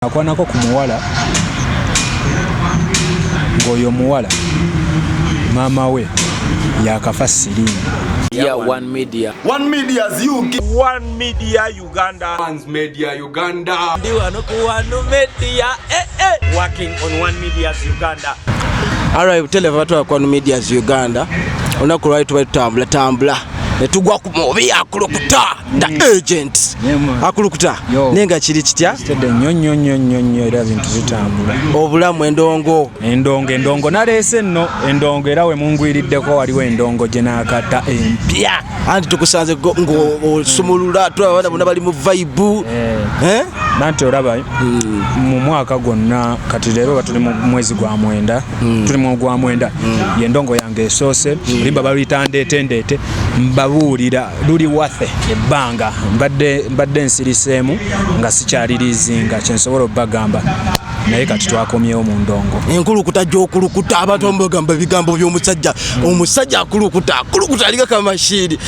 akwanako ku muwala ng'oyo omuwala maama we yakafa siriimu Yeah, one media. One media is you. One media Uganda. One's media Uganda. Diwano ku one media. Eh eh. Working on one media Uganda. All right, tell abantu ku one media Uganda. Onakulwa tubali tambula tambula. Netugwa ku mobi akulukuta. the mm. agent akulukuta naye nga kiri kitya nnyo nnyo nnyo nnyo nnyo era bintu bitambula obulamu endongo endongo endongo naleese nno endongo era we mungwiriddeko waliwo endongo gye naakata empya anti tukusanze ng'osumulula tulaba abaana bona bali mu vaibu eh. eh? nanti olaba mm. mu mwaka gwonna kati leero batuli mu mwezi gwa mwenda mm. tuli mu gwa mwenda yendongo yange esoose limba baluyita ndeete ndeete mbabuulira luli wathe ebbanga mbadde mbadde nsiriseemu nga sikyalirizinga kyensobola okubagamba naye kati twakomyewo mu ndongo enkulukuta gyokulukuta abantu amubagamba ebigambo byomusajja omusajja akulukuta akulukuta alinga kamashiiri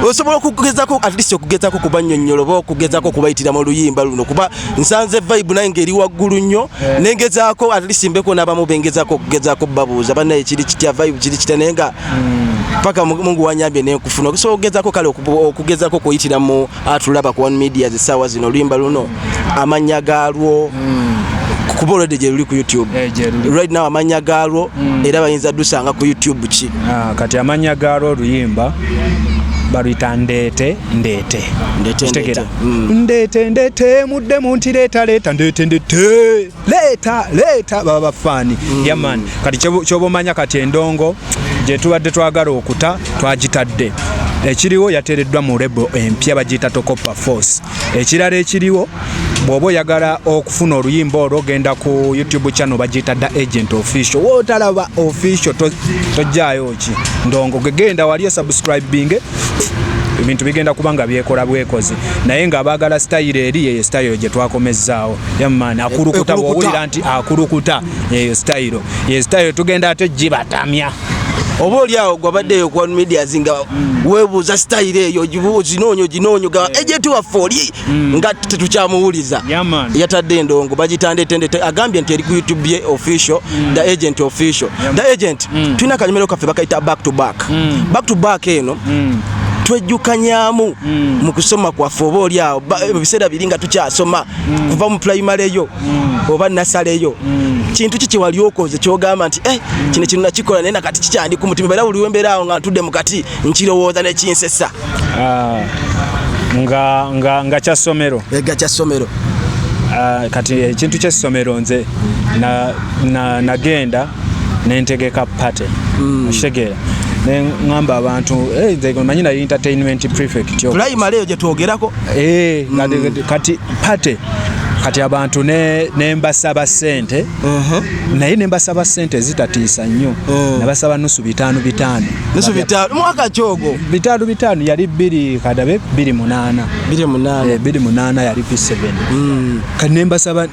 osobola okugezako atleast okugezako kubanyonyola oba okugezako okubayitira mu luyimba luno kuba nsanze vibe naye ngaeri waggulu nnyo nengezako atleast mbeko nabamu bengezako okugezako babuuza banaye kiri kitya vibe kiri kitya naye nga paka mungu wanyambye nenkufuna okusobola okugezako kale okugezako okuyitira mu atulaba ku one media zisaawa zino oluyimba luno amannya gaalwo hmm. kuba olwedde gye luli ku youtube eh, right now amannya gaalwo hmm. era bayinza dusanga ku youtube ki ah, kati amannya gaalwo oluyimba baluyita ndeete ndeete ndeete ndeete hmm. ndeete ndeete mudde muntireeta leeta ndeete ndeete leeta leeta baba bafaani mm. yaman kati kyoba omanya kati endongo gyetubadde twagala okuta twagitadde ekiriwo yateereddwa mu rebo empya bagiyita tokopa force ekirala ekiriwo bwoba oyagala okufuna oluyimba olwo ogenda ku youtube channel bagiyita da agent official wotalaba official tojjayo ki ndongo gegenda wali osubscribinge ebintu bigenda kuba nga byekola bwekozi naye nga abaagala sitayiro eri yeyo sitayiro gye twakomezzaawo yaman akulukuta bwowulira nti akulukuta eyo sitayiro ye sitayiro tugenda ate gibatamya oba oli awo gwabaddeyo ku one medias nga mm. webuuza sitayiro eyo ginoonyo ginoonyo ga ejenti waffe oli mm. nga tetukyamuwuliza yatadde endongo bagitandetende agambye nti eri ku youtube ye official mm. the agent official the agent tulina akanyumiro kaffe bakayita back to back back to back eno twejjukanyamu mu kusoma kwaffe oba oli awo ebiseera biri nga tukyasoma mm. ova mu primary yo mm. oba nasale yo mm. kintu kiki wali okoze kyogamba nti eh, mm. kino kino nakikola naye nakati kikyandi ku mutima era buli wembeera awo nga ntudde mu kati nkirowooza nekinsesa uh, nga, nga, nga kya ssomero ega kya ssomero uh, kati ekintu kyessomero nze nagenda na, na nentegeka party mm. okitegeera nengamba abantu eh, manyi nayo entertainment prefect primary eyo gyetwogerako eh, mm. kati party kati abantu nembasaba sente uh-huh. naye nembasaba sente ezitatiisa nnyo uh-huh. nabasaba nusu bitaano bitaano mwaka kyogo bitaano bitaano yali biri kadabe biri munaana biri munaana eh, yali p7 mm. kati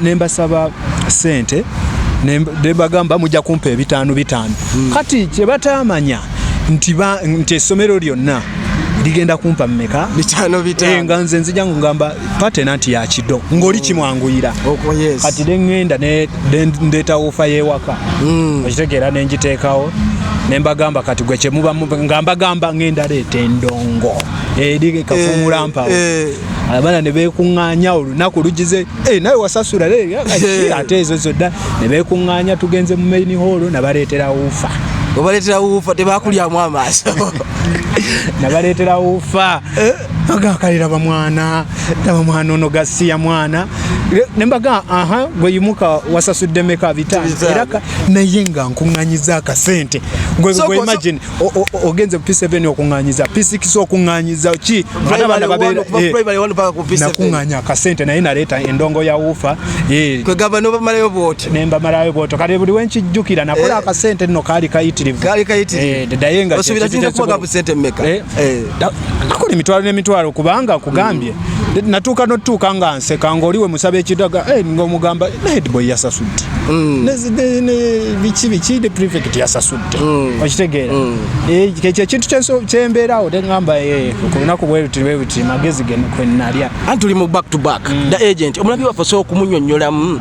nembasaba sente nebagamba mujja kumpa ebitaano bitaano hmm. kati kyebataamanya nti essomero lyonna ligenda kumpa mumeka bitano bitano eh, nga nze nzija ngamba patena nti ya kido ngoli kimwanguyira oko oh, yes ati dengenda ne ndeta ufa yewaka mm. okitegera ne njitekawo ne mbagamba kati gwe kye muba ngamba gamba ngenda leta endongo eri eh, kafumula eh, mpawo eh. abana ne bekunganya olunaku lugize Eh, nawe wasasula ate ezo zodda ne beekuŋŋaanya tugenze mu main hall nabaleetera wuufa obaleetera wuufa tebakulyamu amaaso nabaleetera wuufa eh? agakale laba mwana laba mwana ono gasiya mwana nembaga aha gweyimuka wasasudde meka bita era naye nga nkuŋŋanyiza akasente gwemagine ogenze p seven okunganyiza p six okunganyiza ki nakuŋŋanya akasente naye naleeta endongo ya wuufa eh. kwegamba nobamalayo bwoti nembamalayo bwoto kale buli wenkijjukira nakola eh. akasente nno kaali kayitirivu eh, daye ngaosuubira kiyinza kubaga busente mmeka nakola emitwalo n'emitwalo kubanga kugambye mm. natuuka notutuuka nga nseka ngaoli we musaba ekidaga ngaomugamba naye dboy yasasudde mm. biki biki the prefect yasasudde mm. okitegeera mm. eh, ekyo ekintu kyembeerawo teŋamba eh, ku lunaku bweruti bweruti magezi ge kwenalya anti tuli mu back to back mm. the agent omulabi waffe osobola okumunyonyolamu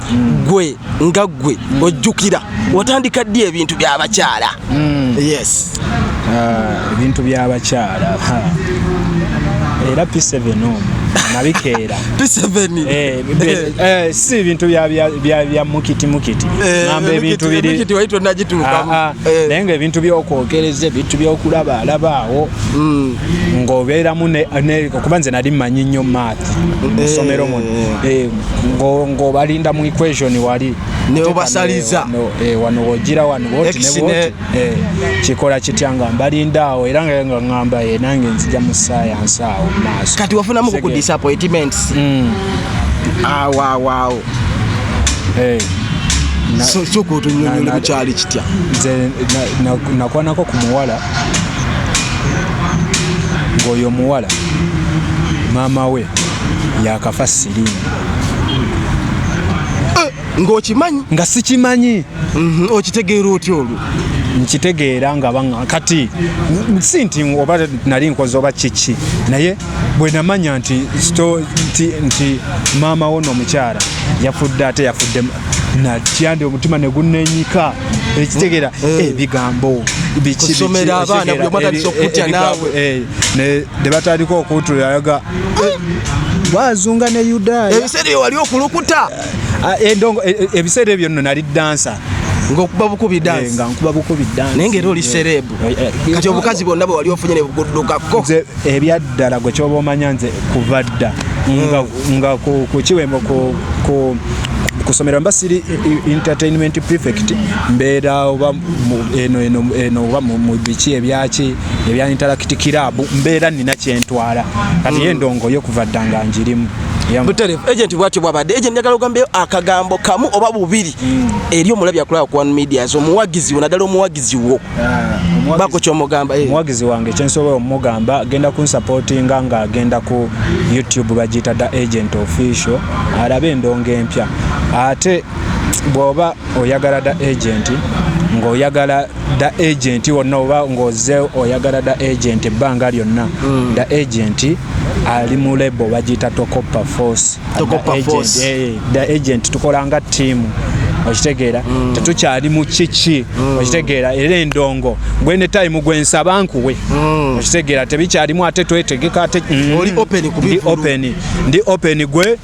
gwe nga gwe ojjukira watandika ddi ebintu byabakyala yes ah, ebintu byabakyala era p7 nabikeera Eh, eh, eh, si bintu bya mukiti mukiti namba ebintu ah, ah. naye nga ebintu byokwogereza ebintu byokulaba alabaawo mm. ng'obeeramu kuba nze nali manyi nnyo math musomero muno ng'obalinda mu equation wali wano wogira wano Eh, kikola kitya nga mbalinda awo era nga nga ngamba ye eh, nange nzija mu sayansi awo maaso kati wafunamu ku disappointments mm. awawaawo eh. soka otunyonyole bukyali kitya nze nakwanako ku muwala ng'oyo omuwala maama we yakafa sirimu ng'okimanyi nga sikimanyi mhm, okitegeera otya olwo nkitegeera nga baa kati si nti oba nali nkoze oba kiki naye bwe namanya nti nti maama wo noomukyala yafudde ate yafudde natya ndi omutima ne gunnenyika ekitegeera mm. eh. ebigambo kusomera abaana buli omatandisa okutya naawe eh, ne batandika okuntulaga eh. wazunga ne yudaaya ebiseera eyo wali okulukuta Ah, endongo eh, eh, ebiseera ebyo nno nali dansa ngokuba bukubi dance eh, nga nkuba bukubi dance naye ngera oli serebu kati obukazi bwonna bwe wali ofunye nebuguddukako nze ebyaddala gwe kyoba omanya nze kuva dda hmm. nga kukiwembo kusomera mba siri entertainment prefect mbeera oba eno eno eno oba mu biki ebyaki ebya interact club mbeera nina kyentwala kati hmm. yendongo yo kuva dda nga njirimu buterevu agent bwatyo bwabadde agent njagala ogambeyo akagambo kamu oba bubiri mm. eri omulabi akulaba ku one media zo omuwagizi wo naddala omuwagizi wo ah, bako kyomugamba eh. omuwagizi wange kyensobola omugamba agenda kunsupportinga nga agenda ku youtube bagiyita da agent official alabe endongo empya ate bwoba oyagala da agenti ng'oyagala da agenti wonna oba ng'oze oyagala da agenti ebbanga lyonna hmm. da agenti ali mu lebo bagiyita tokoppa force da agenti eh, tukola nga ttiimu okitegeera hmm. tetukyali mu kiki hmm. okitegeera era endongo gwene time gwensaba nkuwe okitegeera tebikyalimu ate twetegeka ate ndi open gwe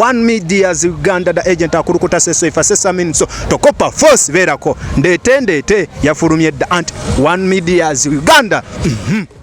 One Media's Uganda da agent akulukuta seso ifa sesa minso tokopa force verako ndete ndete yafulumye da anti One Media's Uganda mm -hmm.